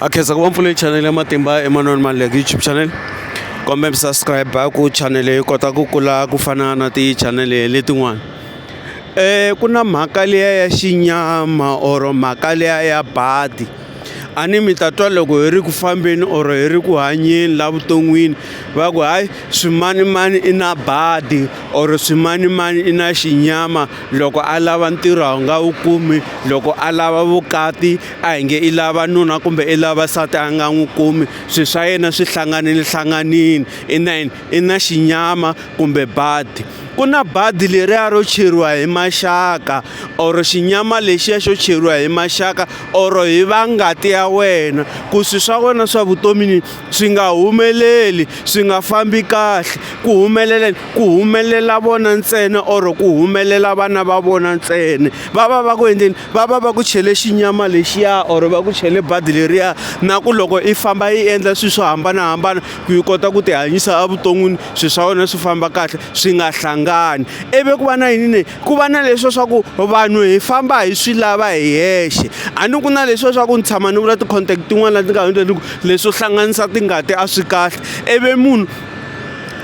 a khensa ku va mpfune chanele ya matimba emanoni malek youtube channel kombe mi subscribe ku chanele yi kota ku kula ku fana na tichanele letin'wana um ku na mhaka liya ya xinyama or mhaka liya ya badi a ni mi ta twa loko hi ri ku fambeni or hi ri ku hanyeni la vuton'wini va ku hayi swimanimani i na badi or swimanimani i na xinyama loko a lava ntirho a wu nga wu kumi loko a lava vukati a hi nge i lava nuna kumbe i lava nsati a nga n'wi kumi swilo swa yena swi hlanganile hlanganile i na yini i na xinyama kumbe badi ku na badi leriya ro cheriwa hi maxaka or xinyama lexiya xo cheriwa hi maxaka or hi va ngati ya wena ku swi swa wena swa vutomi ni. swi nga humeleli swi nga fambi kahle ku humelela ku humelela vona ntsena or ku humelela vana va vona ntsena va va va ku endleni va va va ku chele xinyama lexiya or va ku chele badi leriya na ku loko i famba i endla swilo swo hambanahambana ku yi kota ku tihanyisa evuton'wini swilo swa wena swi famba kahle swi nga hlangani ivi ku va na yini ne ku va na leswo swa ku vanhu hi famba hi swi lava hi hexe a ni ku na leswo swa ku ni tshama ni vula ti-contact tin'wana leti nga hundza ni ku leswo hlanganisa tingati a swi kahle ivi munhu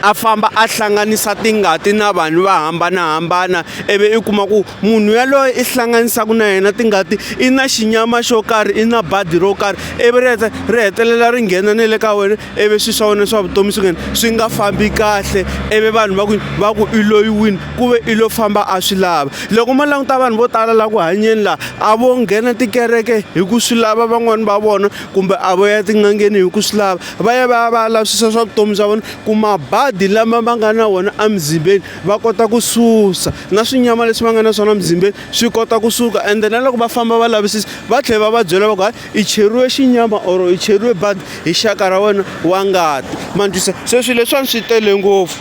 a famba a hlanganisa tingati na vanhu va hambanahambana ivi i kuma ku munhu yaloye i hlanganisaka na yena tingati i na xinyama xo karhi i na badi ro karhi ivi ri heta ri hetelela ri nghena na le ka wena ivi swi swa wena swa vutomi swi nghena swi nga fambi kahle ivi vanhu va ku va ku i loyiwini ku ve i lo famba a swi lava loko mo languta vanhu vo tala laha ku hanyeni laha a vo nghena tikereke hi ku swi lava van'wani va vona kumbe a vo ya tin'angeni hi ku swi lava va ya va ya va ya lavisisa swa vutomi bya vona ku mabadi lama va nga na wona emuzimbeni va kota ku susa na swinyama leswi va nga na swona emuzimbeni swi kota ku suka ende na loko va famba va lavisisa va tlhela va va byela va ku hayi i cheriwe xinyama or i cheriwe badi hi xaka ra wena wa ngati ma ni twisa se swilo leswiwani swi tele ngopfu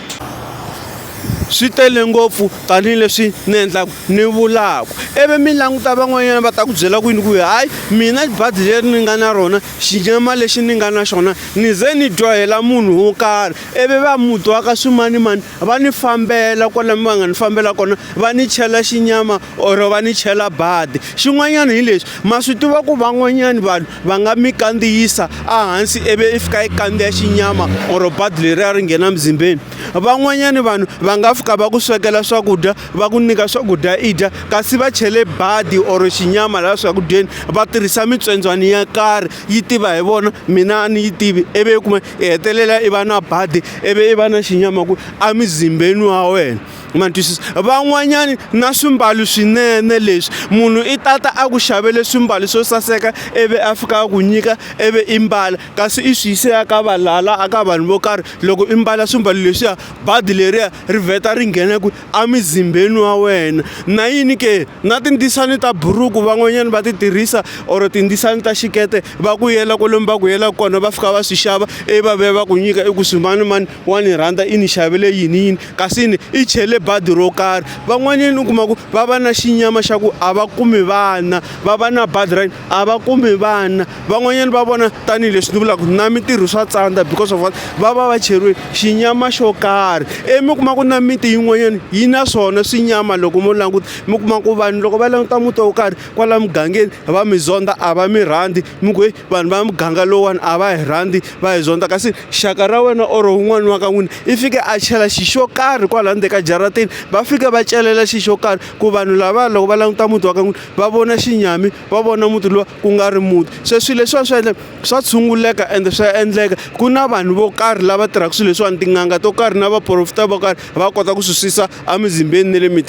swi tele ngopfu tanihi leswi ni endlaka ni vulaka ivi mi languta van'wanyana va ta ku byela ku yini ku hayi mina badi leri ni nga na rona xinyama lexi ni nga na xona ni ze ni dyohela munhu wo karhi ivi va muti wa ka swimanimani va ni fambela kwalani va nga ni fambela kona va ni chela xinyama or va ni chela badi xin'wanyana hi lexi ma swi tiva ku van'wanyana vanhu va nga mi kandziyisa ehansi ivi i fika i kandziya xinyama or badi leri a ri nghena mizimbeni van'wanyani vanhu va nga fika va ku swekela swakudya va ku nyika swakudya i dya kasi va chele badi or xinyama laha swakudyeni va tirhisa mitswendzwani ya karhi yi tiva hi vona mina a ni yi tivi ivi i kuma i hetelela i va na badi ivi i va na xinyama ku emizimbeni wa wena ma ni twisisa van'wanyani na swimbalo swinene leswi munhu i tata a ku xavele swimbalo swo saseka ivi a fika a ku nyika ivi i mbala kasi i swi yise aka valala aka vanhu vo karhi loko i mbala swimbalo leswiya badi leriya ri vheta ri nghena kwi emizimbeni wa wena na yini ke na tindzisani ta buruku van'wanyana va ti tirhisa or tindzisani ta xikete va ku yela kwalomu va ku yela kona va fika va swi xava ivi va vuya va ku nyika i ku swi mani mani wa ni rhandza i ni xavele yini yini kasi ni i chele badi ro karhi van'wanyana u kuma ku va va na xinyama xa ku a va kumi vana va va na badi ra a va kumi vana van'wanyana va vona tanihileswi ni vulaka na mintirho swa tsandza because of what va va va cheriwe xinyama xo karhi ivi mi kuma ku na miti yin'wanyana yi na swona swinyama loko mo languta mi kuma ku vanhu loko va languta muti wo karhi kwala mugangeni va mi zonda a va mi rhandzi mi ku heyi vanhu va muganga lowuwani a va hi rhandzi va hi zonda kasi xaka ra wena or wun'wani wa ka n'wina i fike a chela xi xo karhi kwala ndzeni ka jaratini va fike va celela xi xo karhi ku vanhu lava loko va languta muti wa ka n'wina va vona xinyami va vona muti lowa ku nga ri muti se swilo leswiwa swi endla swa tshunguleka ende swa endleka ku na vanhu vo karhi lava tirhaka swilo leswiwani tin'anga to karhi na vaporofeta vo karhi va kota ku swi susa emizimbeni na le mitini.